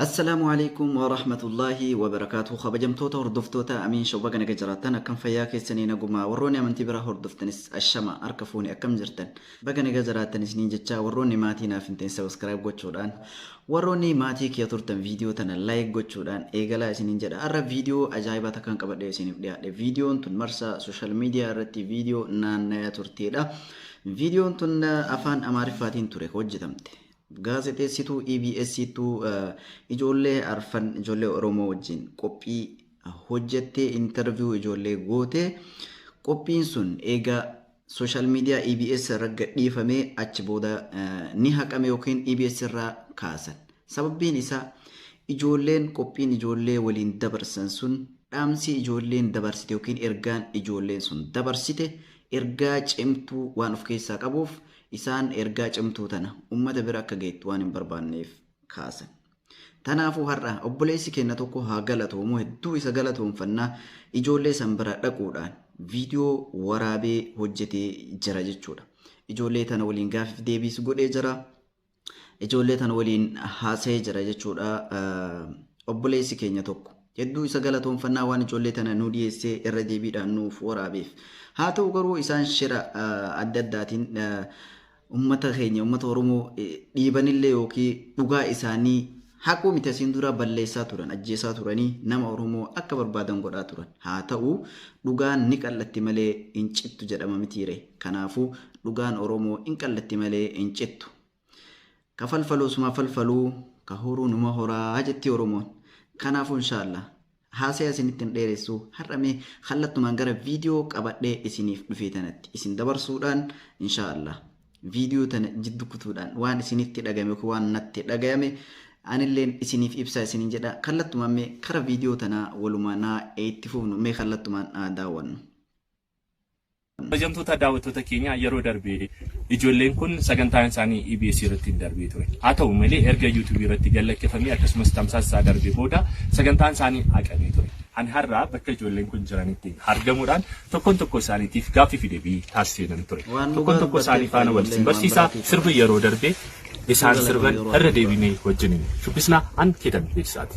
Assalaamu alaikum wa rahmatullahi wa barakaatuhu kabajamtoota hordoftoota Amiin Show baga naga jiraattan akkam fayyaa keessanii nagumaa warroonni amantii biraa hordoftanis ashama harka fuune akkam jirtan baga naga jiraattan isiniin jechaa warroonni maatii naaf hin ta'in sabiskiraayib gochuudhaan warroonni maatii kiyya turtan viidiyoo tana laayik gochuudhaan eegalaa isiniin jedha har'a viidiyoo ajaa'ibaa takkaan qabadhee isiniif dhiyaadhe viidiyoon tun marsaa sooshaal miidiyaa irratti viidiyoo naannaya turteedha viidiyoon tun afaan amaariffaatiin ture hojjetamte Gaazexeessituu EBS tu ijoollee arfan ijoollee Oromoo wajjin qophii hojjettee interview ijoollee goote. Qophiin sun eega social media EBS irra gadhiifamee achi booda eh, ni haqame yookiin EBS irraa kaasan. Sababbiin isaa ijoolleen qophiin ijoollee waliin dabarsan sun dhaamsi ijoolleen dabarsite yookiin ergaan ijoolleen sun dabarsite ergaa cimtuu waan of keessaa qabuuf Isaan ergaa cimtuu tana ummata bira akka geettu waan hin barbaanneef kaasan. Tanaafuu har'a obboleessi keenna tokko haa galatoomu hedduu isa galatoomfanna ijoollee san bira dhaquudhaan viidiyoo waraabee hojjetee jira jechuudha. Ijoollee tana waliin gaafiif deebiis godhee jira. Ijoollee tan waliin haasa'ee jira jechuudha obboleessi keenya tokko. Hedduu isa galatoonfannaa waan ijoollee tana nu dhiyeessee irra deebiidhaan nuuf waraabeef. Haa ta'u garuu isaan shira adda addaatiin uummata keenya uummata Oromoo dhiibanillee yookiin dhugaa isaanii Haquu miti asiin dura balleessaa turan, ajjeesaa turanii, nama Oromoo akka barbaadan godhaa turan. Haa ta'u, dhugaan ni qal'atti malee hin cittu jedhama mitiiree? Kanaafuu, dhugaan Oromoo in qal'atti malee hin cittu. Ka falfalu osuma falfaluu, ka horu numa horaa jetti Oromoon. Kanaafuu, inshaa Allaah, Haasaya isinitti hin dheeressu. Har'a mee kallattumaan gara viidiyoo qabadhee isiniif dhufee tanatti isin dabarsuudhaan inshaa Allah viidiyoo tana jiddu kutuudhaan waan isinitti dhagame yookiin waan natti dhagayame anilleen isiniif ibsaa isinin jedha. Kallattumaan mee kara viidiyoo tanaa walumaa naa itti fufnu mee kallattumaan haa daawwannu. Kabajamtoota daawwattoota keenyaa yeroo darbe ijoolleen kun sagantaan isaanii EBS irratti hin darbee ture. Haa ta'u malee erga YouTube irratti gad lakkifamee akkasumas tamsaasa isaa darbee booda sagantaan isaanii haqamee ture. Ani har'aa bakka ijoolleen kun jiranitti argamuudhaan tokkoon tokkoo isaaniitiif gaaffii fi deebii taasiseen ture. Tokkoon tokkoo isaanii faana wal isin barsiisaa sirba yeroo darbe isaan sirban irra deebinee wajjin shubbisnaa an keetan beeksisaati.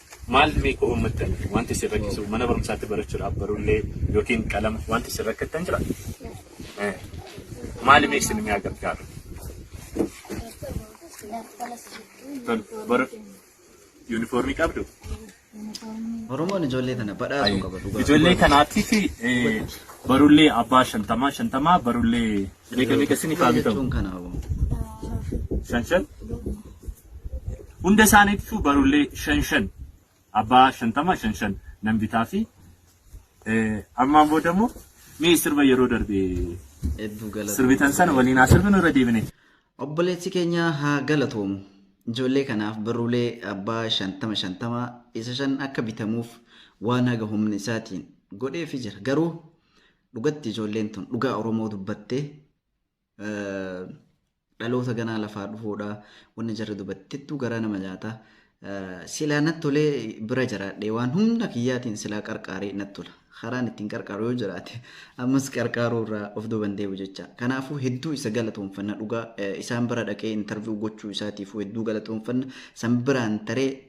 Maal mee koo uummattan wanti isin rakkisu mana barumsaatti barachuudhaaf barullee yookiin qalama wanti isin rakkattan jira? Eh, Maali mee isin mi'a gargaaru? Tol- Bara yuunifoormii qabdu? Oromoon ijoollee tana badhaasuu qaba dhugaa. Ijoollee kanaatiif eh, barullee abbaa shantamaa shantamaa barullee Meeqa meeqa isin ifaa bitamu? jechuun kana hoo. Shan shan. Hunda isaaniitu barullee shan shan. Abbaa shantama shan shan nan bitaa fi eh, ammaan booda immoo mee sirba yeroo darbe Hedduu galatoomii. sirbitan sana waliin haa sirbinu irra deebine. Obboleessi keenya haa galatoomu. Ijoollee kanaaf barruulee abbaa shantama shantama isa shan akka bitamuuf waan haga humna isaatiin godheefi jira. Garuu Dhugatti ijoolleen tun dhugaa Oromoo dubbattee dhaloota ganaa lafaa dhufuudha. Wanni jarri dubattettuu garaa nama nyaata. Silaa natti tolee bira jiraadhee waan humna kiyyaatiin silaa qarqaaree natti tola. Karaan ittiin qarqaaru yoo jiraate ammas qarqaaruu irraa of duuban deebi'u jecha. Kanaafuu hedduu isa galatoomfanna dhugaa isaan bira dhaqee intarviyu gochuu isaatiifuu hedduu galatoomfanna. San biraan taree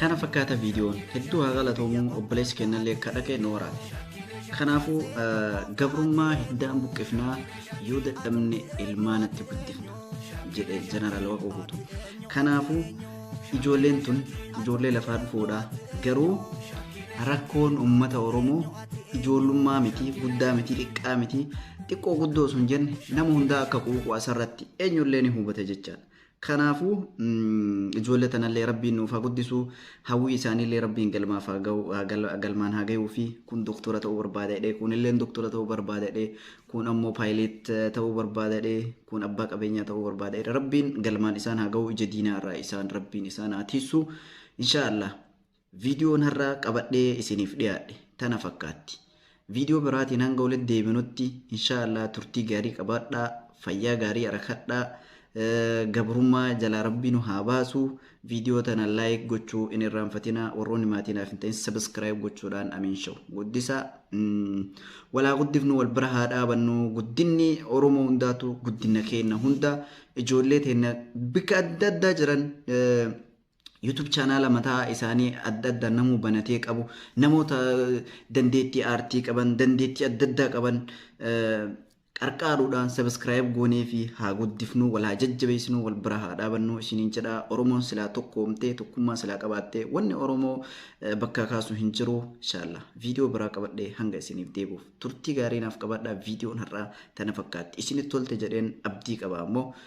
Kana fakkaata viidiyoon hedduu haa galatoomuu obboleessi kennallee akka dhaqee nu waraana. Kanaafuu gabrummaa hiddaan buqqifnaa yoo dadhabne ilmaanatti guddifna jedhe jeneraal Waaqoo Guutuu. Kanaafuu ijoolleen tun ijoollee lafaa dhufuudha. Garuu rakkoon uummata Oromoo ijoollummaa miti, guddaa miti, xiqqaa miti, xiqqoo guddoo sun jenne nama hundaa akka quuqu asirratti eenyullee ni hubata jechaadha. Kanaafuu ijoollee tanallee rabbiin nuuf haa guddisu hawwii isaaniillee rabbiin galmaaf haa gahu haa gal- galmaan haa gahuu fi kun doktora ta'uu barbaada jedhee kun illeen doktora ta'uu barbaada jedhee kun ammoo paayileet ta'uu barbaada jedhee kun abbaa qabeenyaa ta'uu barbaada jedhee rabbiin galmaan isaan haa gahu ija diinaa irraa isaan rabbiin isaan haa tiissu inshaallah Viidiyoon har'a qabadhee isiniif dhiyaadhe tana fakkaatti. Viidiyoo biraatiin hanga walitti deebinutti inshaa Allah turtii gaarii qabaadhaa, fayyaa gaarii arakadhaa, gabrummaa jalaa rabbii nu haa baasu. Viidiyoo tana like gochuu hin irraanfatinaa, warroonni maatii naaf hin ta'in subscribe gochuudhaan Amiin Show guddisaa. Walaa guddifnu wal bira haa dhaabannu guddinni Oromoo hundaatu guddina keenya hunda ijoollee teenya bika adda addaa jiran YouTube chaanaala mataa isaanii adda addaa namuu banatee qabu. Namoota dandeettii aartii qaban, dandeettii adda addaa qaban qarqaaruudhaan sabiskiraayib goonee fi haa guddifnu, wal haa jajjabeessinu, wal bira haa dhaabannu isiniin jedha. Oromoon silaa tokkoomtee, tokkummaa silaa qabaattee wanni Oromoo bakkaa kaasu hin jiru. Inshaalla viidiyoo biraa qabadhee hanga isiniif deebi'uuf turtii gaarii naaf qabaadhaa. Viidiyoon har'aa tana fakkaatti. Isinitti tolte jedheen abdii qaba ammoo